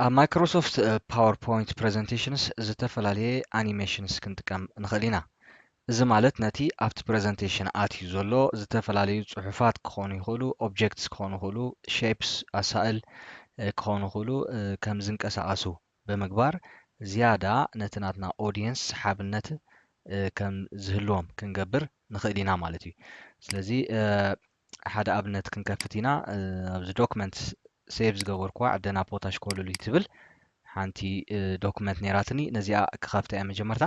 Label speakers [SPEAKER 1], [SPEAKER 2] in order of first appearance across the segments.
[SPEAKER 1] ኣብ ማይክሮሶፍት ፓወርፖይንት ፕሬዘንቴሽንስ ዝተፈላለየ ኣኒሜሽንስ ክንጥቀም ንኽእል ኢና። እዚ ማለት ነቲ ኣብቲ ፕሬዘንቴሽን ኣትዩ ዘሎ ዝተፈላለዩ ፅሑፋት ክኾኑ ይኽእሉ፣ ኦብጀክትስ ክኾኑ ይኽእሉ፣ ሼፕስ ኣሳእል ክኾኑ ይኽእሉ ከም ዝንቀሳቐሱ ብምግባር ዝያዳ ነቲ ናትና ኦድየንስ ሰሓብነት ከም ዝህልዎም ክንገብር ንኽእል ኢና ማለት እዩ። ስለዚ ሓደ ኣብነት ክንከፍት ኢና ኣብዚ ዶክመንት ሴቭ ዝገበርኩዋ ዕደና ፖታሽ ኮለሉይ ትብል ሓንቲ ዶክመንት ነይራትኒ ነዚኣ ክኸፍታ እየ መጀመርታ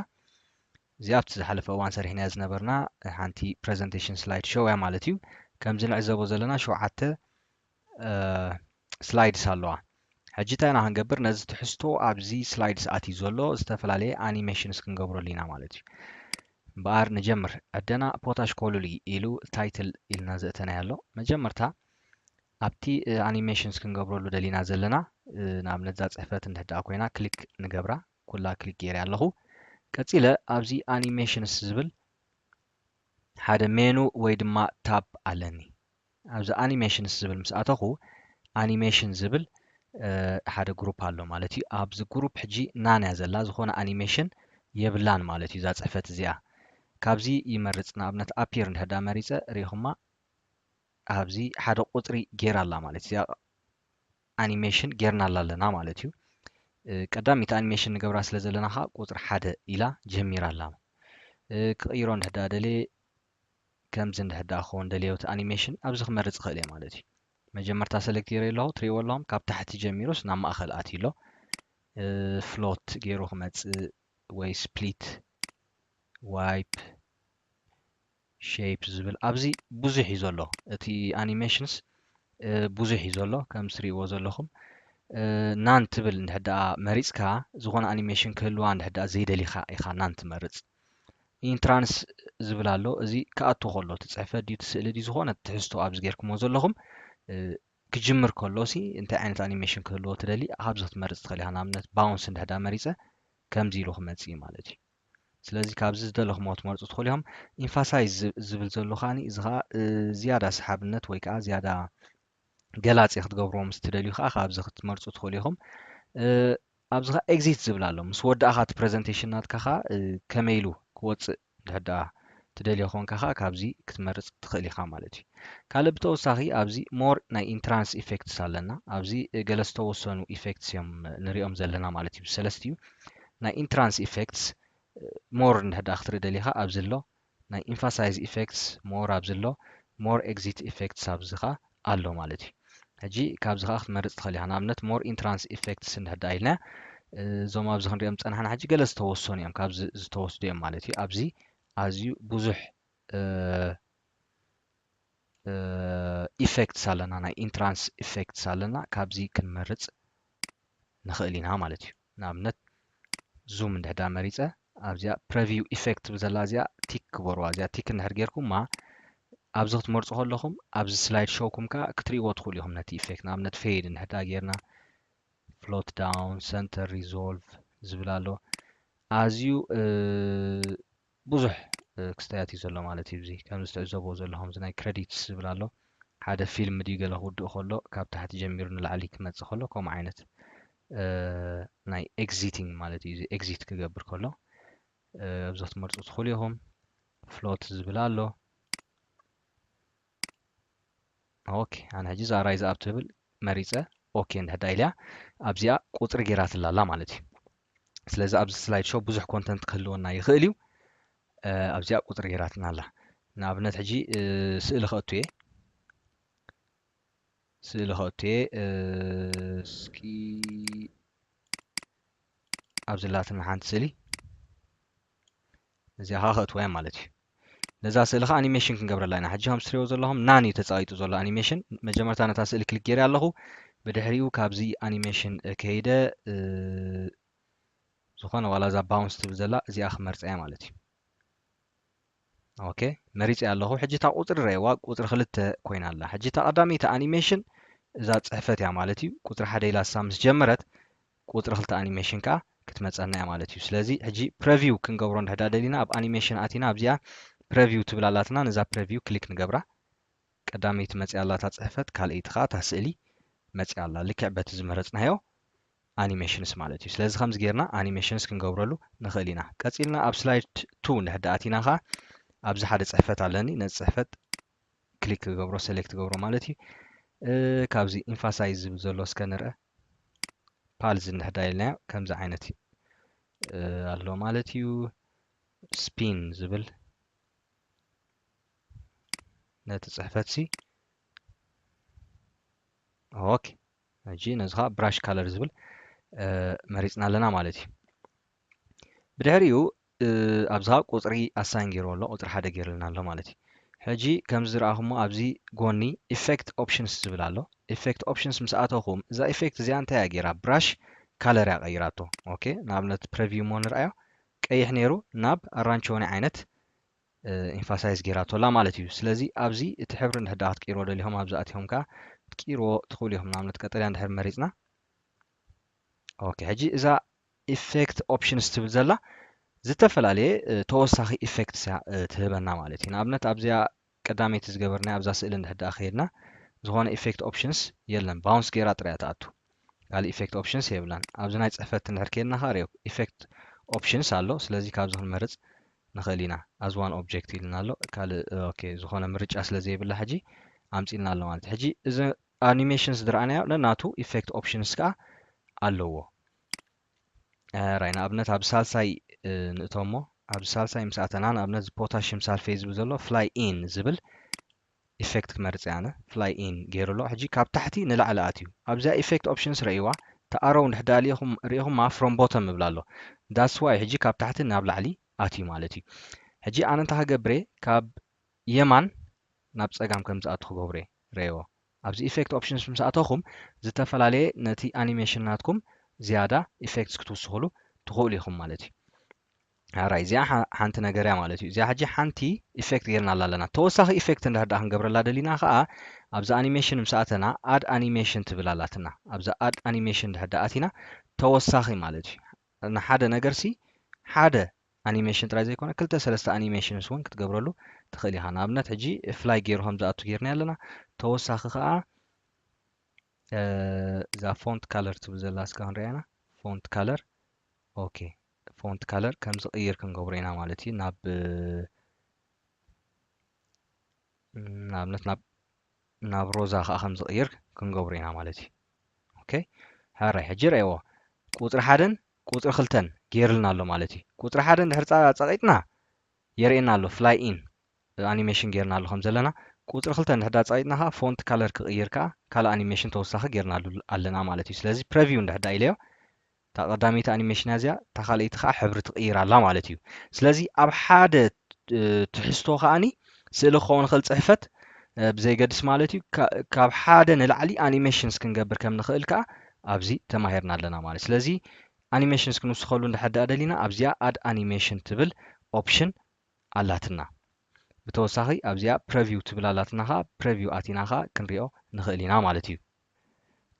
[SPEAKER 1] እዚ ኣብቲ ዝሓለፈ እዋን ሰሪሕናያ ዝነበርና ሓንቲ ፕረዘንቴሽን ስላይድ ሾው እያ ማለት እዩ። ከምዚ ንዕዘቦ ዘለና ሸውዓተ ስላይድስ ኣለዋ። ሕጂ እንታይ ኢና ክንገብር ነዚ ትሕዝቶ ኣብዚ ስላይድስ ኣትዩ ዘሎ ዝተፈላለየ ኣኒሜሽንስ ክንገብረሉ ኢና ማለት እዩ። እምበኣር ንጀምር። ዕደና ፖታሽ ኮሉሊ ኢሉ ታይትል ኢልና ዘእተናዮ ኣሎ። መጀመርታ ኣብቲ ኣኒሜሽንስ ክንገብረሉ ደሊና ዘለና ንኣብነት እዛ ጽሕፈት እንድሕር ደኣ ኮይና ክሊክ ንገብራ። ኩላ ክሊክ ገይረያ ኣለኹ። ቀጺለ ኣብዚ ኣኒሜሽንስ ዝብል ሓደ ሜኑ ወይ ድማ ታብ ኣለኒ። ኣብዚ ኣኒሜሽንስ ዝብል ምስ ኣተኹ ኣኒሜሽን ዝብል ሓደ ግሩፕ ኣሎ ማለት እዩ ኣብዚ ግሩፕ ሕጂ ናን እያ ዘላ ዝኾነ ኣኒሜሽን የብላን ማለት እዩ እዛ ፅሕፈት እዚኣ ካብዚ ይመርፅ ንኣብነት ኣፒር እንድሕዳ መሪፀ ሪኢኹማ ኣብዚ ሓደ ቁፅሪ ጌራ ኣላ ማለት እዚኣ ኣኒሜሽን ጌርናላ ኣለና ማለት እዩ ቀዳሚት ኣኒሜሽን ንገብራ ስለ ዘለና ከዓ ቁፅሪ ሓደ ኢላ ጀሚራ ኣላ ክቕይሮ እንድሕዳ ደልየ ከምዚ እንድሕር ደኣ ክኸውን ደልዮ እቲ ኣኒሜሽን ኣብዚ ክመርጽ ይኽእል እየ ማለት እዩ። መጀመርታ ሰለክት ገይረ ኣለኹ ትሪእዎ ኣለኹም ካብ ታሕቲ ጀሚሩስ ናብ ማእኸል ኣትዩ ኣሎ ፍሎት ገይሩ ክመጽእ ወይ ስፕሊት ዋይፕ ሼፕ ዝብል ኣብዚ ብዙሕ እዩ ዘሎ እቲ ኣኒሜሽንስ ብዙሕ እዩ ዘሎ ከም ትሪእዎ ዘለኹም ናን ትብል እንድሕር ደኣ መሪጽካ ዝኾነ ኣኒሜሽን ክህልዋ እንድሕር ደኣ ዘይደሊኻ ኢኻ ናን ትመርጽ ኢንትራንስ ዝብል ኣሎ እዚ ክኣቱ ከሎ እቲ ፅሕፈት ድዩ እቲ ስእሊ ድዩ ዝኾነ ትሕዝቶ ኣብዚ ጌርኩሞ ዘለኹም ክጅምር ከሎ ሲ እንታይ ዓይነት ኣኒሜሽን ክህልዎ ትደሊ ኣብዚ ክትመርፅ ትኽእል ኢኻ ንኣብነት ባውንስ እንድሕዳ መሪፀ ከምዚ ኢሉ ክመፅእ እዩ ማለት እዩ ስለዚ ካብዚ ዝደለኹሞ ክትመርፁ ትኽእሉ እዮም ኢንፋሳይዝ ዝብል ዘሎ ከዓኒ እዚ ከዓ ዝያዳ ሰሓብነት ወይ ከዓ ዝያዳ ገላጺ ክትገብርዎ ምስ ትደልዩ ከኣ ካብዚ ክትመርጹ ትኽእሉ ኢኹም። ኣብዚ ከኣ ኤግዚት ዝብል ኣሎ። ምስ ወዳእካ እቲ ፕረዘንቴሽን ናትካ ከኣ ከመይ ኢሉ ክወጽእ እንድሕር ደኣ ትደልዮ ኮንካ ከኣ ካብዚ ክትመርጽ ትኽእል ኢኻ ማለት እዩ። ካልእ ብተወሳኺ ኣብዚ ሞር ናይ ኢንትራንስ ኢፌክትስ ኣለና። ኣብዚ ገለ ዝተወሰኑ ኢፌክትስ እዮም ንሪኦም ዘለና ማለት እዩ። ብሰለስቲኡ ናይ ኢንትራንስ ኢፌክትስ ሞር እንድሕር ደኣ ክትርኢ ደሊኻ ኣብዚ ኣሎ። ናይ ኢንፋሳይዝ ኢፈክትስ ሞር ኣብዚ ኣሎ ሞር ኤግዚት ኢፈክትስ ኣብዚ ከኣ ኣሎ ማለት እዩ ሕጂ ካብዚ ከኣ ክትመርጽ ትኽእል ኢኻ ንኣብነት ሞር ኢንትራንስ ኢፈክትስ እንድሕር ደኣ ኢልና እዞም ኣብዚ ክንሪኦም ዝጸናሕና ሕጂ ገለ ዝተወሰኑ እዮም ካብዚ ዝተወስዱ እዮም ማለት እዩ ኣብዚ ኣዝዩ ብዙሕ ኢፈክትስ ኣለና ናይ ኢንትራንስ ኢፈክትስ ኣለና ካብዚ ክንመርጽ ንኽእል ኢና ማለት እዩ ንኣብነት ዙም እንድሕዳ መሪጸ ኣብዚኣ ፕረቪው ኢፌክት ትብል ዘላ እዚኣ ቲክ ክበርዋ እዚኣ ቲክ እንድሕር ጌርኩማ ኣብዚ ክትመርጹ ከለኹም ኣብዚ ስላይድ ሾውኩም ከዓ ክትርእይዎ ትኽእሉ ኢኹም ነቲ ኢፌክት ንኣብነት ፌድ እንድሕዳ ጌርና ፍሎት ዳውን ሰንተር ሪዞልቭ ዝብል ኣሎ ኣዝዩ ብዙሕ ክስታያት እዩ ዘሎ ማለት እዩ እዚ ከምዚ ትዕዘብዎ ዘለኹም እዚ ናይ ክረዲትስ ዝብል ኣሎ ሓደ ፊልም ድዩ ገለ ክውድእ ከሎ ካብ ታሕቲ ጀሚሩ ንላዕሊ ክመጽእ ከሎ ከምኡ ዓይነት ናይ ኤግዚቲንግ ማለት እዩ እዚ ኤግዚት ክገብር ከሎ ኣብዚ ክትመርጹ ትኽእሉ ኢኹም ፍሎት ዝብል ኣሎ ኦኬ ኣነ ሕጂ እዛ ራይዝ ኣብ ትብል መሪፀ ኦኬ እንድሕዳ ኢልያ ኣብዚኣ ቁፅሪ ጌራትላ ኣላ ማለት እዩ ስለዚ ኣብዚ ስላይድ ሾው ብዙሕ ኮንተንት ክህልወና ይኽእል እዩ ኣብዚኣ ቁፅሪ ጌራትና ኣላ ንኣብነት ሕጂ ስእሊ ከእቱ እየ ስእሊ ከእቱ እየ እስኪ ኣብዚ ላትና ሓንቲ ስእሊ እዚኣ ከኣ ከእትዋ እየ ማለት እዩ ነዛ ስእሊ ከኣ ኣኒሜሽን ክንገብረላ ኢና ሕጂ ከም ትሪእዎ ዘለኹም ናን እዩ ተጻቂጡ ዘሎ ኣኒሜሽን መጀመርታ ነታ ስእሊ ክሊክ ገይረ ኣለኹ ብድሕሪኡ ካብዚ ኣኒሜሽን ከይደ ዝኾነ ዋላ እዛ ባውንስ ትብል ዘላ እዚኣ ክመርፀ እያ ማለት እዩ ኦኬ መሪፀ ኣለኹ ሕጂ እታ ቁፅሪ ረእዋ ቁፅሪ ክልተ ኮይና ኣላ ሕጂ እታ ቀዳመይቲ ኣኒሜሽን እዛ ፅሕፈት እያ ማለት እዩ ቁፅሪ ሓደ ኢላ እሳ ምስ ጀመረት ቁጽሪ ክልተ ኣኒሜሽን ከኣ ክትመጸና እያ ማለት እዩ። ስለዚ ሕጂ ፕረቪው ክንገብሮ እንድሕዳ ደሊና ኣብ ኣኒሜሽን ኣቲና ኣብዚኣ ፕረቪው ትብል ኣላትና ነዛ ፕረቪው ክሊክ ንገብራ። ቀዳመይቲ መጺኣ ኣላ እታ ጽሕፈት ካልኣይቲ ከኣ እታ ስእሊ መጺኣ ኣላ ልክዕ በቲ ዝመረጽናዮ ኣኒሜሽንስ ማለት እዩ። ስለዚ ከምዚ ጌርና ኣኒሜሽንስ ክንገብረሉ ንኽእል ኢና። ቀጺልና ኣብ ስላይድ ቱ እንድሕዳ ኣቲና ከኣ ኣብዚ ሓደ ጽሕፈት ኣለኒ ነዚ ጽሕፈት ክሊክ ክገብሮ ሰሌክት ክገብሮ ማለት እዩ። ካብዚ ኢንፋሳይዝ ዝብል ዘሎ እስከ ንርኣ። ፓልዝ እንሕዳ ኢልናዮ ከምዚ ዓይነት ኣሎ ማለት እዩ ስፒን ዝብል ነቲ ፅሕፈት ሲ ኦኬ ሕጂ ነዚ ከዓ ብራሽ ካለር ዝብል መሪፅና ኣለና ማለት እዩ ብድሕሪኡ ኣብዛ ቁጽሪ ኣሳይን ጌርዎ ኣሎ ቁጽሪ ሓደ ጌርልና ኣሎ ማለት እዩ ሕጂ ከምዚ ዝረኣኹሞ ኣብዚ ጎኒ ኢፌክት ኦፕሽንስ ዝብል ኣሎ ኢፌክት ኦፕሽንስ ምስ ኣተኹም እዛ ኢፌክት እዚኣ እንታይ እያ ጌራ ብራሽ ካለር እያ ቀይራቶ ኦኬ ንኣብነት ፕረቪው እሞ ንርኣዮ ቀይሕ ነይሩ ናብ ኣራንቸወኒ ዓይነት ኢንፋሳይዝ ጌራቶላ ማለት እዩ ስለዚ ኣብዚ እቲ ሕብሪ እንድሕር ደኣ ክትቅይርዎ ደሊኹም ኣብዚ ኣትኹም ከዓ ክትቅይርዎ ትኽእሉ ኢኹም ንኣብነት ቀጠልያ እንድሕር መሪፅና ኦኬ ሕጂ እዛ ኢፌክት ኦፕሽንስ ትብል ዘላ ዝተፈላለየ ተወሳኺ ኢፌክትስ እያ ትህበና ማለት እዩ ንኣብነት ኣብዚኣ ቀዳመይቲ ዝገበርናያ ኣብዛ ስእሊ እንድሕር ደኣ ከይድና ዝኾነ ኢፌክት ኦፕሽንስ የለን ባውንስ ገይራ ጥራያ ትኣቱ ካልእ ኢፌክት ኦፕሽንስ የብላን ኣብዚ ናይ ፅሕፈት እንድሕር ከይድና ከዓ ሪኦ ኢፌክት ኦፕሽንስ ኣሎ ስለዚ ካብዚ ክንመርፅ ንኽእል ኢና ኣዝ ዋን ኦብጀክት ኢልና ኣሎ ካልእ ኦኬ ዝኾነ ምርጫ ስለ ዘይብላ ሕጂ ኣምፂልና ኣሎ ማለት ሕጂ እዚ ኣኒሜሽንስ ዝረኣናዮ ነናቱ ኢፌክት ኦፕሽንስ ከኣ ኣለዎ ራይ ንኣብነት ኣብ ሳልሳይ ንእቶሞ ኣብ ሳልሳይ ምስ ኣተና ንኣብነት እዚ ፖታሽየም ሳልፌት ዝብል ዘሎ ፍላይ ኢን ዝብል ኢፌክት ክመርጽ እየ ኣነ ፍላይ ኢን ገይሩ ኣሎ ሕጂ ካብ ታሕቲ ንላዕሊ ኣትዩ ኣብዚኣ ኢፌክት ኦፕሽንስ ረእይዋ ተኣረው ንድሕዳ ሪኢኹም ሪኢኹማ ፍሮም ቦተም ይብላ ኣሎ ዳትስ ዋይ ሕጂ ካብ ታሕቲ ናብ ላዕሊ ኣትዩ ማለት እዩ ሕጂ ኣነ እንታይ ክገብር እየ ካብ የማን ናብ ጸጋም ከም ዝኣቱ ክገብሮ ረየዎ። ኣብዚ ኢፌክት ኦፕሽንስ ምስ ኣተኹም ዝተፈላለየ ነቲ ኣኒሜሽን ናትኩም ዝያዳ ኢፌክትስ ክትውስኹሉ ትኽእሉ ኢኹም ማለት እዩ። ሐራይ እዚኣ ሓንቲ ነገር እያ ማለት እዩ። እዚኣ ሕጂ ሓንቲ ኢፌክት ጌርናላ ኣለና። ተወሳኺ ኢፌክት እንድሕር ደኣ ክንገብረላ ደሊና ከኣ ኣብዚ ኣኒሜሽን ምስ ኣተና ኣድ ኣኒሜሽን ትብል ኣላትና። ኣብዚ ኣድ ኣኒሜሽን እንድሕር ደኣ ኣቲና ተወሳኺ ማለት እዩ። ንሓደ ነገርሲ ሓደ ኣኒሜሽን ጥራይ ዘይኮነ ክልተ ሰለስተ ኣኒሜሽንስ ውን ክትገብረሉ ትኽእል ኢኻ። ንኣብነት ሕጂ ፍላይ ጌሩ ከም ዝኣቱ ጌርናዮ ኣለና። ተወሳኺ ከኣ እዛ ፎንት ካለር ትብል ዘላ እስካ ክንሪኣ ኢና። ፎንት ካለር ኦኬ ፎንት ካለር ከም ዝቕይር ክንገብሮ ኢና ማለት እዩ ናብ ንኣብነት ናብ ናብ ሮዛ ከዓ ከም ዝቕይር ክንገብሮ ኢና ማለት እዩ ኦኬ ሕራይ ሕጂ ረእዎ ቁፅሪ ሓደን ቁፅሪ ክልተን ገይርልና ኣሎ ማለት እዩ ቁፅሪ ሓደ እንድሕር ፀቒጥና የርእየና ኣሎ ፍላይ ኢን ኣኒሜሽን ገይርና ኣሎ ከም ዘለና ቁፅሪ ክልተ እንድሕዳ ፀቒጥና ከዓ ፎንት ካለር ክቕይር ከዓ ካልእ ኣኒሜሽን ተወሳኺ ገይርና ኣለና ማለት እዩ ስለዚ ፕረቪው እንድሕዳ ኢለዮ እታ ቀዳመይቲ ኣኒሜሽን ኣዚያ እታ ካልኣይቲ ከኣ ሕብሪ ትቅይር ኣላ ማለት እዩ ስለዚ ኣብ ሓደ ትሕዝቶ ከኣኒ ስእሊ ክኸውን ይኽእል ጽሕፈት ብዘይገድስ ማለት እዩ ካብ ሓደ ንላዕሊ ኣኒሜሽንስ ክንገብር ከም ንኽእል ከኣ ኣብዚ ተማሂርና ኣለና ማለት ስለዚ ኣኒሜሽንስ ክንውስኸሉ እንድሕር ደኣ ደሊና ኣብዚኣ ኣድ ኣኒሜሽን ትብል ኦፕሽን ኣላትና ብተወሳኺ ኣብዚኣ ፕረቪው ትብል ኣላትና ከኣ ፕረቪው ኣቲና ከኣ ክንሪኦ ንኽእል ኢና ማለት እዩ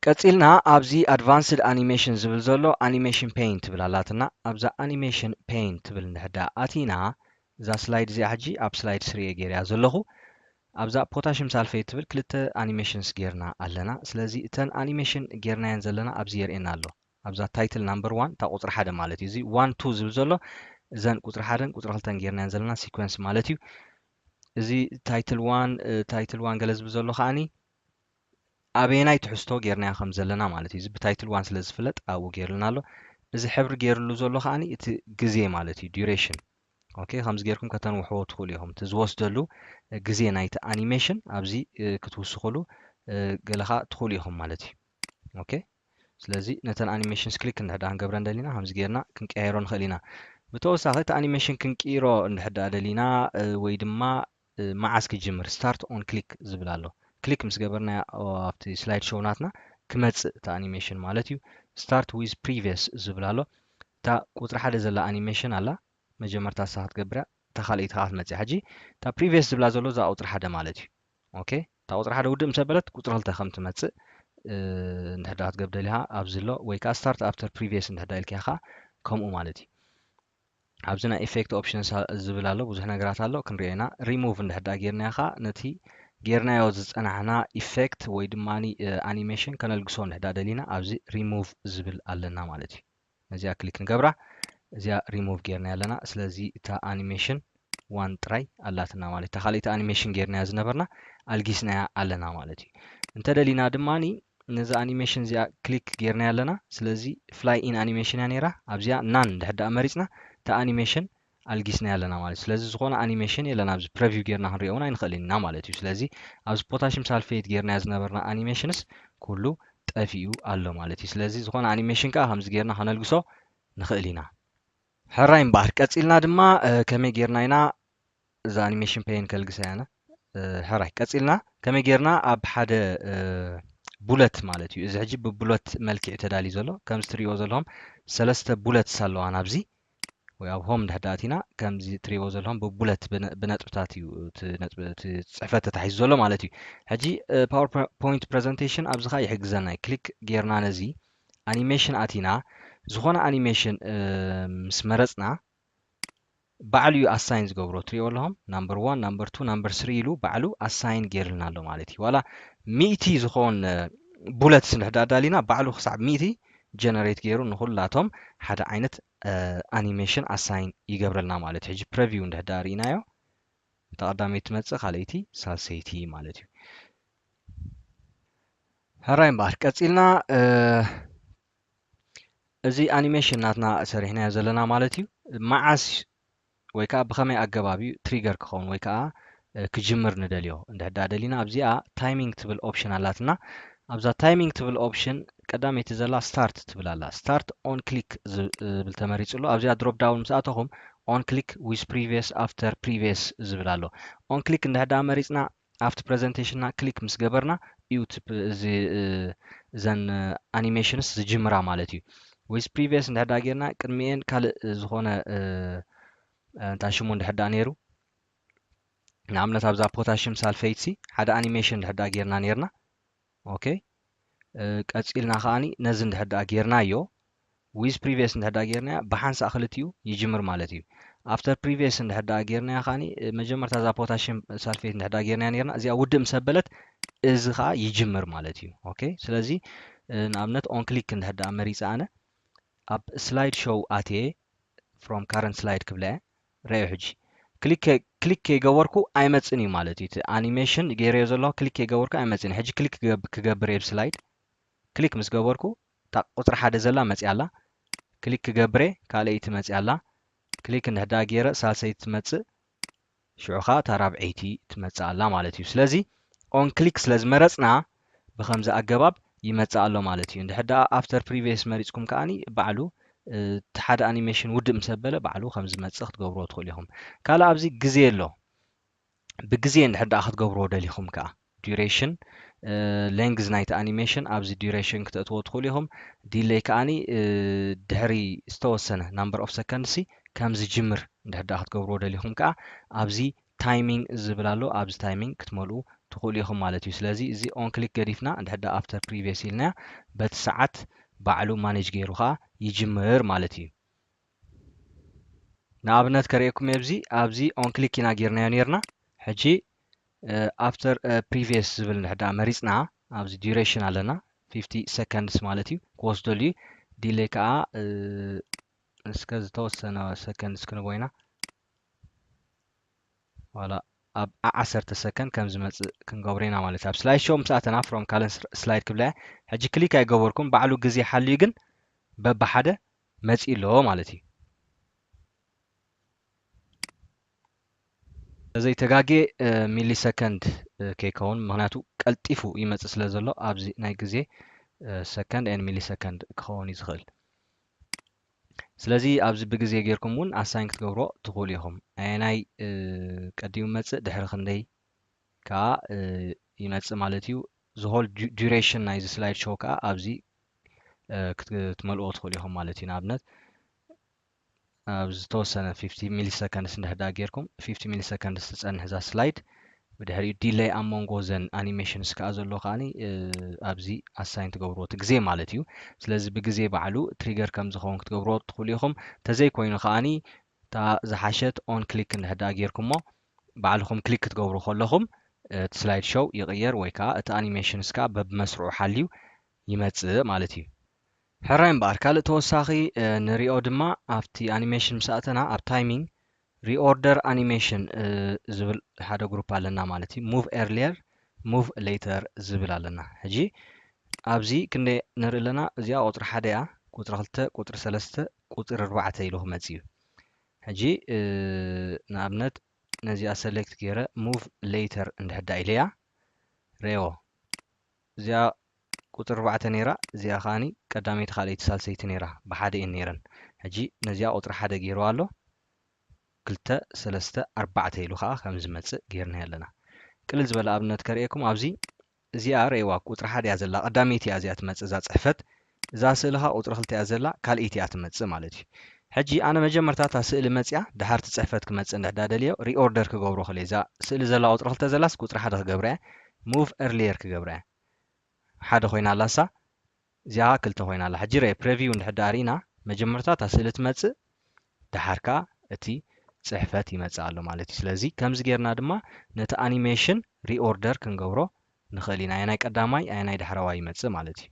[SPEAKER 1] ቀጺልና ኣብዚ ኣድቫንስድ ኣኒሜሽን ዝብል ዘሎ ኣኒሜሽን ፔይን ትብል ኣላትና ኣብዛ ኣኒሜሽን ፔይን ትብል እንድሕር ደኣ ኣቲና እዛ ስላይድ እዚኣ ሕጂ ኣብ ስላይድ ስሪ እየ ገይረያ ዘለኹ ኣብዛ ፖታሽም ሳልፈይት ትብል ክልተ ኣኒሜሽንስ ጌርና ኣለና ስለዚ እተን ኣኒሜሽን ጌርናየን ዘለና ኣብዚ የርእየና ኣሎ ኣብዛ ታይትል ናምበር ዋን እታ ቁፅሪ ሓደ ማለት እዩ እዚ ዋን ቱ ዝብል ዘሎ እዘን ቁፅሪ ሓደን ቁፅሪ ክልተን ጌርናየን ዘለና ሲኮንስ ማለት እዩ እዚ ታይትል ዋን ታይትል ዋን ገለ ዝብል ዘሎ ከዓኒ ኣበየናይ ትሕዝቶ ጌርናዮ ከም ዘለና ማለት እዩ። እዚ ብታይትል ዋን ስለ ዝፍለጥ ኣብኡ ጌርልና ኣሎ። እዚ ሕብሪ ጌርሉ ዘሎ ከኣ እቲ ግዜ ማለት እዩ duration ኦኬ ከምዚ ጌርኩም ከተንውሕዎ ትኽእሉ ኢኹም እቲ ዝወስደሉ ግዜ ናይቲ ኣኒሜሽን ኣብዚ ክትውስኽሉ ገለኻ ትኽእሉ ኢኹም ማለት እዩ ኦኬ ስለዚ ነተን ኣኒሜሽንስ ክሊክ እንድሕዳ ክንገብረ እንደሊና ከምዚ ጌርና ክንቀያየሮ ንኽእል ኢና ብተወሳኺ እቲ ኣኒሜሽን ክንቅይሮ እንድሕዳ ደሊና ወይ ድማ መዓስ ክጅምር ስታርት ኦን ክሊክ ዝብል ኣሎ ክሊክ ምስ ገበርናያ ኣብቲ ስላይድ ሾው ናትና ክመጽእ እቲ ኣኒሜሽን ማለት እዩ ስታርት ዊዝ ፕሪቪየስ ዝብል ኣሎ እታ ቁጽሪ ሓደ ዘላ ኣኒሜሽን ኣላ መጀመርታ ንሳ ክትገብርያ እታ ካልኣይቲ ከዓ ትመጽእ ሕጂ እታ ፕሪቪየስ ዝብላ ዘሎ እዛ ቁጽሪ ሓደ ማለት እዩ ኦኬ እታ ቁጽሪ ሓደ ውድእ ምስ ኣበለት ቁጽሪ ክልተ ከም ትመጽእ እንድሕዳ ክትገብር ደሊኻ ኣብዚ ኣሎ ወይ ከዓ ስታርት ኣፍተር ፕሪቪየስ እንድሕዳ ኢልካያ ከዓ ከምኡ ማለት እዩ ኣብዚ ናይ ኢፌክት ኦፕሽንስ ዝብል ኣሎ ብዙሕ ነገራት ኣሎ ክንሪኦ ኢና ሪሙቭ እንድሕዳ ጌርናዮ ከዓ ነቲ ጌርናዮ ዝፀናሕና ኢፌክት ወይ ድማ ኣኒሜሽን ከነልግሶ እንድሕዳ ደሊና ኣብዚ ሪሙቭ ዝብል ኣለና ማለት እዩ ነዚኣ ክሊክ ንገብራ እዚኣ ሪሙቭ ጌርናዮ ኣለና ስለዚ እታ ኣኒሜሽን ዋን ጥራይ ኣላትና ማለት እታ ካልኣይቲ ኣኒሜሽን ጌርናያ ዝነበርና ኣልጊስናያ ኣለና ማለት እዩ እንተደሊና ድማ ነዚ ኣኒሜሽን እዚኣ ክሊክ ጌርናያ ኣለና ስለዚ ፍላይ ኢን ኣኒሜሽን እያ ነይራ ኣብዚኣ ናን ድሕር ድኣ መሪፅና እታ ኣኒሜሽን ኣልጊስናያ ኣለና ማለት ስለዚ ዝኾነ ኣኒሜሽን የለን ኣብዚ ፕረቪው ጌርና ክንሪኦ እውን ኣይንኽእልን ኢና ማለት እዩ ስለዚ ኣብዚ ፖታሽም ሳልፌት ጌርናያ ዝነበርና ኣኒሜሽንስ ኩሉ ጠፊኡ ኣሎ ማለት እዩ ስለዚ ዝኾነ ኣኒሜሽን ከዓ ከምዚ ጌርና ከነልግሶ ንኽእል ኢና ሕራይ እምበኣር ቀጺልና ድማ ከመይ ጌርና ኢና እዛ ኣኒሜሽን ፔን ከልግሳ ኢና ሕራይ ቀጺልና ከመይ ጌርና ኣብ ሓደ ቡለት ማለት እዩ እዚ ሕጂ ብቡለት መልክዕ ተዳልዩ ዘሎ ከምዚ ትሪእዎ ዘለኹም ሰለስተ ቡለትስ ኣለዋ ናብዚ ወይ ኣብ ሆም ድሕዳ ኣቲና ከምዚ ትሪእዎ ዘለኹም ብቡለት ብነጥብታት እዩ እቲ ፅሕፈት ተታሒዙ ዘሎ ማለት እዩ ሕጂ ፓወር ፖይንት ፕሬዘንቴሽን ኣብዚ ከዓ ይሕግዘና እዩ ክሊክ ጌርና ነዚ ኣኒሜሽን ኣቲና ዝኾነ ኣኒሜሽን ምስ መረጽና ባዕሉ እዩ ኣሳይን ዝገብሮ ትሪኦ ኣለኹም ናምበር ዋን ናምበር ቱ ናምበር ስሪ ኢሉ ባዕሉ ኣሳይን ገይርልና ኣሎ ማለት እዩ ዋላ ሚእቲ ዝኾን ቡለት ስንድሕር ኣዳሊና ባዕሉ ክሳብ ሚእቲ ጀነሬት ገይሩ ንኹላቶም ሓደ ዓይነት ኣኒሜሽን ኣሳይን ይገብረልና ማለት እዩ ሕጂ ፕረቪው እንድሕዳ ርኢናዮ ተቐዳመይቲ ትመፅእ ካልኣይቲ ሳልሰይቲ ማለት እዩ ሕራይ እምበኣር ቀጺልና እዚ ኣኒሜሽን ናትና ሰሪሕናዮ ዘለና ማለት እዩ መዓስ ወይ ከዓ ብኸመይ ኣገባብ እዩ ትሪገር ክኸውን ወይ ከዓ ክጅምር ንደልዮ እንድሕዳ ደሊና ኣብዚኣ ታይሚንግ ትብል ኦፕሽን ኣላትና ኣብዛ ታይሚንግ ትብል ኦፕሽን ቀዳመይቲ ዘላ ስታርት ትብል ኣላ ስታርት ኦን ክሊክ ዝብል ተመሪጹ ኣሎ ኣብዚኣ ድሮፕ ዳውን ምስ ኣተኹም ኦን ክሊክ ዊዝ ፕሪቪየስ ኣፍተር ፕሪቪየስ ዝብል ኣሎ ኦን ክሊክ እንድሕዳ መሪፅና ኣብቲ ፕረዘንተሽንና ክሊክ ምስ ገበርና እዩ እቲ እዚ እዘን ኣኒሜሽንስ ዝጅምራ ማለት እዩ ወይስ ፕሪቪየስ እንድሕር ደኣ ጌርና ቅድሚኤን ካልእ ዝኾነ እንታይ ሽሙ እንድሕር ደኣ ነይሩ ንኣብነት ኣብዛ ፖታሽም ሳልፈይትሲ ሓደ ኣኒሜሽን እንድሕር ደኣ ጌርና ነይርና ኦኬ ቀጺልና ከኣ ነዚ እንድሕር ደኣ ጌርናዮ ዊዝ ፕሪቪየስ እንድሕር ደኣ ጌርናያ ብሓንሳእ ክልቲኡ ይጅምር ማለት እዩ ኣፍተር ፕሪቪየስ እንድሕር ደኣ ጌርናያ ከኣ መጀመርታ እዛ ፖታሽየም ሳልፌት እንድሕር ደኣ ጌርናያ ነርና እዚኣ ውድእ ምስ ኣበለት እዚ ከኣ ይጅምር ማለት እዩ ኦኬ ስለዚ ንኣብነት ኦን ክሊክ እንድሕር ደኣ መሪጸ ኣነ ኣብ ስላይድ ሾው ኣትየ ፍሮም ካረንት ስላይድ ክብላ እየ ረኣዮ ሕጂ ክሊክ ክሊክ ከይገበርኩ ኣይመጽን እዩ ማለት እዩ እቲ ኣኒሜሽን ገይረዮ ዘለኹ ክሊክ ከይገበርኩ ኣይመጽን እዩ ሕጂ ክሊክ ክገብር እየ ብስላይድ ክሊክ ምስ ገበርኩ እታ ቁጽሪ ሓደ ዘላ መጽያ ኣላ ክሊክ ክገብር እየ ካልኣይቲ መጽያ ኣላ ክሊክ እንድሕዳ ገይረ ሳልሰይቲ ትመጽእ ሽዑ ከዓ እታ ራብዐይቲ ትመጽእ ኣላ ማለት እዩ ስለዚ ኦን ክሊክ ስለ ዝመረጽና ብኸምዚ ኣገባብ ይመጽእ ኣሎ ማለት እዩ። እንድሕር ደኣ After Previous መሪጽኩም ከኣ ባዕሉ እቲ ሓደ ኣኒሜሽን ውድእ ምስ ኣበለ ባዕሉ ከም ዝመጽእ ክትገብርዎ ትኽእሉ ኢኹም። ካልእ ኣብዚ ግዜ ኣሎ። ብግዜ እንድሕር ደኣ ክትገብርዎ ደሊኹም ከኣ Duration ሌንግዝ ናይቲ ኣኒሜሽን ኣብዚ Duration ክተእትዎ ትኽእሉ ኢኹም። ዲለይ ከኣ ድሕሪ ዝተወሰነ ናምበር ኦፍ ሰከንድሲ ከም ዝጅምር እንድሕር ደኣ ክትገብርዎ ደሊኹም ከኣ ኣብዚ ታይሚንግ ዝብል ኣሎ ኣብዚ ታይሚንግ ክትመልኡ ትኽእሉ ኢኹም ማለት እዩ ስለዚ እዚ ኦን ክሊክ ገዲፍና እንድሕር ደኣ ኣፍተር ፕሪቪየስ ኢልናያ በቲ ሰዓት ባዕሉ ማኔጅ ገይሩ ከኣ ይጅምር ማለት እዩ ንኣብነት ከርእየኩም እየ ኣብዚ ኣብዚ ኦን ክሊክ ኢና ጌርናዮ ነርና ሕጂ ኣፍተር ፕሪቪየስ ዝብል እንድሕር ደኣ መሪፅና ኣብዚ ዲሬሽን ኣለና 50 ሰከንድስ ማለት እዩ ክወስደሉ እዩ ዲሌይ ከዓ እስከ ዝተወሰነ ሰከንድስ ክንቦ ኢና ዋላ ኣብ ዓሰርተ ሰከንድ ከም ዝመጽእ ክንገብሮ ኢና ማለት እዩ ኣብ ስላይድ ሾው ምስ ኣተና ፍሮም ካልእ ስላይድ ክብላ ሕጂ ክሊክ ኣይገበርኩም ባዕሉ ግዜ ሓልዩ ግን በብሓደ መጺኡ ኣሎ ማለት እዩ ዘይተጋጌ ሚሊ ሰከንድ ከይከውን ምክንያቱ ቀልጢፉ ይመጽእ ስለ ዘሎ ኣብዚ ናይ ግዜ ሰከንድ ን ሚሊ ሰከንድ ክኸውን እዩ ዝኽእል ስለዚ ኣብዚ ብግዜ ጌርኩም እውን ኣሳይን ክትገብርዎ ትኽእሉ ኢኹም። ኣየናይ ቀዲሙ ይመጽእ ድሕሪ ክንደይ ከኣ ይመጽእ ማለት እዩ። ዝሆል ዱሬሽን ናይዚ ስላይድ ሾው ከኣ ኣብዚ ክትመልእዎ ትኽእሉ ኢኹም ማለት እዩ። ንኣብነት ኣብ ዝተወሰነ 50 ሚሊ ሰከንድስ እንድሕር ደኣ ጌርኩም 50 ሚሊ ሰከንድስ ትጸንሕ እዛ ስላይድ ብድሕሪኡ ዲለይ ኣብ መንጎ ዘን ኣኒሜሽንስ ከኣ ዘሎ ከኣ ኣብዚ ኣሳይን ትገብርዎ እቲ ግዜ ማለት እዩ ስለዚ ብግዜ ባዕሉ ትሪገር ከም ዝኸውን ክትገብርዎ ትኽእሉ ኢኹም ተዘይ ኮይኑ ከኣ እታ ዝሓሸት ኦን ክሊክ እንድሕር ደኣ ጌርኩሞ ባዕልኹም ክሊክ ክትገብሩ ከለኹም እቲ ስላይድ ሾው ይቕየር ወይ ከኣ እቲ ኣኒሜሽንስ ከኣ በብመስርዑ ሓልዩ ይመጽእ ማለት እዩ ሕራይ እምበኣር ካልእ ተወሳኺ ንሪኦ ድማ ኣብቲ ኣኒሜሽን ምስ ኣእተና ኣብ ታይሚንግ ሪኦርደር ኣኒሜሽን ዝብል ሓደ ግሩፕ ኣለና ማለት እዩ ሙቭ ኤርሊየር ሙቭ ሌተር ዝብል ኣለና ሕጂ ኣብዚ ክንደ ንርኢ ኣለና እዚኣ ቁፅሪ ሓደ እያ ቁፅሪ ክልተ ቁፅሪ ሰለስተ ቁፅሪ ኣርባዕተ ኢሉ ክመፅ እዩ ሕጂ ንኣብነት ነዚኣ ሰሌክት ገይረ ሙቭ ሌተር እንድሕዳ ኢለያ ሬዎ እዚኣ ቁጽሪ ኣርባዕተ ኔራ እዚኣ ከኣ ቀዳመይቲ ካልኣይቲ ሳልሰይቲ ኔራ ብሓደ እየን ኔረን ሕጂ ነዚኣ ቁጽሪ ሓደ ጌርዋ ኣሎ ክልተ ሰለስተ ኣርባዕተ ኢሉ ከኣ ከም ዝመጽእ ጌርናዮ ኣለና ቅልል ዝበለ ኣብነት ከርእየኩም ኣብዚ እዚኣ ረእይዋ ቁጽሪ ሓደ እያ ዘላ ቀዳመይቲ እያ እዚኣ ትመጽእ እዛ ጽሕፈት እዛ ስእሊ ከኣ ቁጽሪ ክልተ እያ ዘላ ካልኢት እያ ትመጽእ ማለት እዩ። ሕጂ ኣነ መጀመርታ እታ ስእሊ መጽያ ድሓር እቲ ጽሕፈት ክመጽእ እንድሕዳ ደልዮ ሪኦርደር ክገብሮ ከልየ እዛ ስእሊ ዘላ ቁጽሪ ክልተ ዘላስ ቁጽሪ ሓደ ክገብራ እየ ሙቭ ኤርሊየር ክገብራ እየ ሓደ ኮይና ኣላ እሳ እዚኣ ከኣ ክልተ ኮይና ኣላ ሕጂ ርኤ ፕረቪው እንድሕዳ ሪኢና መጀመርታ እታ ስእሊ ትመጽእ ድሓር ከኣ እቲ ጽሕፈት ይመጽእ ኣሎ ማለት እዩ ስለዚ ከምዚ ጌርና ድማ ነቲ ኣኒሜሽን ሪኦርደር ክንገብሮ ንኽእል ኢና ኣየናይ ቀዳማይ ኣየናይ ዳሕረዋይ ይመጽእ ማለት እዩ።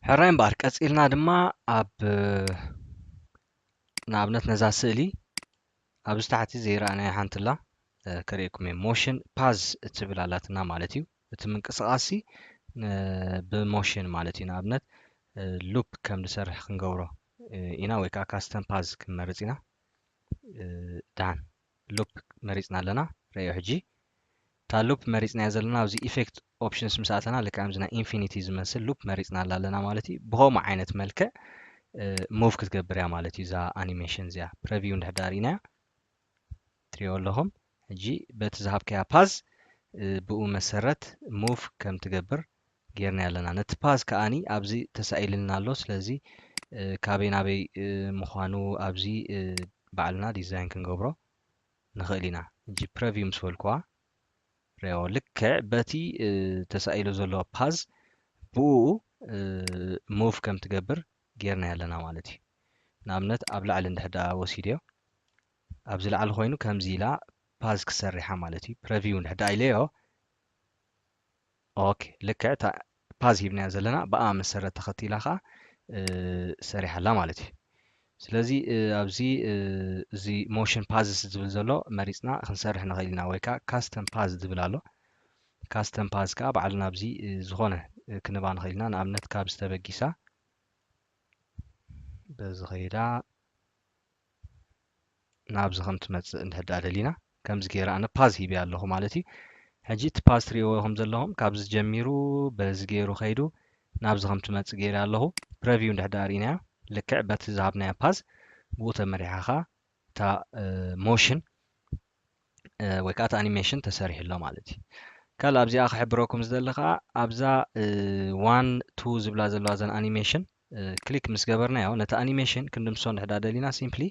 [SPEAKER 1] ሕራይ እምበኣር ቀጺልና ድማ ኣብ ንኣብነት ነዛ ስእሊ ኣብዚ ታሕቲ ዘይረኣናያ ሓንቲ ኣላ ከርእየኩም እየ ሞሽን ፓዝ እትብል ኣላትና ማለት እዩ እቲ ምንቅስቓስ ብሞሽን ማለት እዩ ንኣብነት ሉፕ ከም ዝሰርሕ ክንገብሮ ኢና ወይ ከዓ ካስተም ፓዝ ክንመርፅ ኢና ድሓን ሉፕ መሪጽና ኣለና ረኣዮ ሕጂ እታ ሉፕ መሪጽናያ ዘለና ኣብዚ ኢፌክት ኦፕሽንስ ምስ ኣተና ልክዕ ከምዚ ናይ ኢንፊኒቲ ዝመስል ሉፕ መሪጽናላ ኣለና ማለት እዩ ብኸምኡ ዓይነት መልክዕ ሙቭ ክትገብር እያ ማለት እዩ እዛ ኣኒሜሽን እዚኣ ፕረቪው እንድሕዳ ርኢናያ ትሪኦ ኣለኹም ሕጂ በቲ ዝሃብከያ ፓዝ ብኡ መሰረት ሙቭ ከም ትገብር ጌርናዮ ኣለና ነቲ ፓዝ ከኣ ኣብዚ ተሳኢልልና ኣሎ ስለዚ ካበይ ናበይ ምኳኑ ኣብዚ ባዕልና ዲዛይን ክንገብሮ ንክእል ኢና ሕጂ ፕረቪው ምስ በልኩዋ ሪኦ ልክዕ በቲ ተሳኢሉ ዘሎ ፓዝ ብኡ ሙቭ ከም ትገብር ጌርናዮ ኣለና ማለት እዩ ንኣብነት ኣብ ላዕሊ እንድሕር ደኣ ወሲደዮ ኣብዚ ላዕሊ ኮይኑ ከምዚ ኢላ ፓዝ ክሰሪሓ ማለት እዩ ፕረቪው እንድሕር ደኣ ኢለዮ ኦኬ ልክዕ እታ ፓዝ ሂብናያ ዘለና ብኣ መሰረት ተኸቲላ ከኣ ሰሪሓ ኣላ ማለት እዩ ስለዚ ኣብዚ እዚ ሞሽን ፓዝስ ዝብል ዘሎ መሪፅና ክንሰርሕ ንኽእል ኢና ወይ ከዓ ካስተም ፓዝ ዝብል ኣሎ ካስተም ፓዝ ከዓ ባዕልና ኣብዚ ዝኾነ ክንባ ንኽእል ኢና ንኣብነት ካብ ዝተበጊሳ በዚ ኸይዳ ናብዚ ከም ትመጽእ እንድሕር ድኣ ደሊና ከምዚ ጌረ ኣነ ፓዝ ሂበያ ኣለኹ ማለት እዩ። ሕጂ እቲ ፓዝ ትርእይዎ ኢኹም ዘለኹም ካብዚ ጀሚሩ በዚ ጌሩ ከይዱ ናብዚ ከም ትመጽእ ጌረያ ኣለኹ። ፕረቪው እንድሕር ድኣ ርኢናያ ልክዕ በቲ ዝሃብናያ ፓዝ ብኡ ተመሪሓ ከኣ እታ ሞሽን ወይ ከኣ እቲ ኣኒሜሽን ተሰሪሑ ኣሎ ማለት እዩ። ካልእ ኣብዚኣ ክሕብረኩም ዝደሊ ከኣ ኣብዛ ዋን ቱ ዝብላ ዘለዋ እዘን ኣኒሜሽን ክሊክ ምስ ገበርናዮ ነቲ ኣኒሜሽን ክንድምስሶ እንድሕዳ ደሊና ሲምፕሊ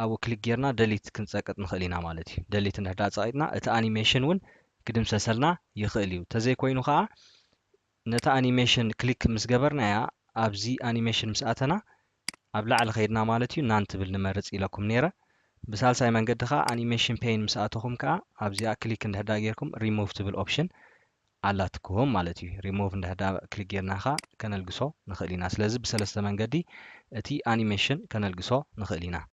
[SPEAKER 1] ኣብኡ ክሊክ ጌርና ደሊት ክንጸቅጥ ንኽእል ኢና ማለት እዩ ደሊት እንድሕዳ ጸቂጥና እቲ ኣኒሜሽን እውን ክድምሰሰልና ይኽእል እዩ ተዘይኮይኑ ከዓ ነቲ ኣኒሜሽን ክሊክ ምስ ገበርናያ ኣብዚ ኣኒሜሽን ምስ ኣተና ኣብ ላዕሊ ከይድና ማለት እዩ ናን ትብል ንመርጽ ኢለኩም ነይረ ብሳልሳይ መንገዲ ከዓ ኣኒሜሽን ፔይን ምስ ኣተኹም ከዓ ኣብዚኣ ክሊክ እንድሕዳ ጌርኩም ሪሙቭ ትብል ኦፕሽን ኣላትኩም ማለት እዩ remove እንድሕር ድኣ click ጌርና ከኣ ከነልግሶ ንኽእል ኢና ስለዚ ብሰለስተ መንገዲ እቲ animation ከነልግሶ ንኽእል ኢና።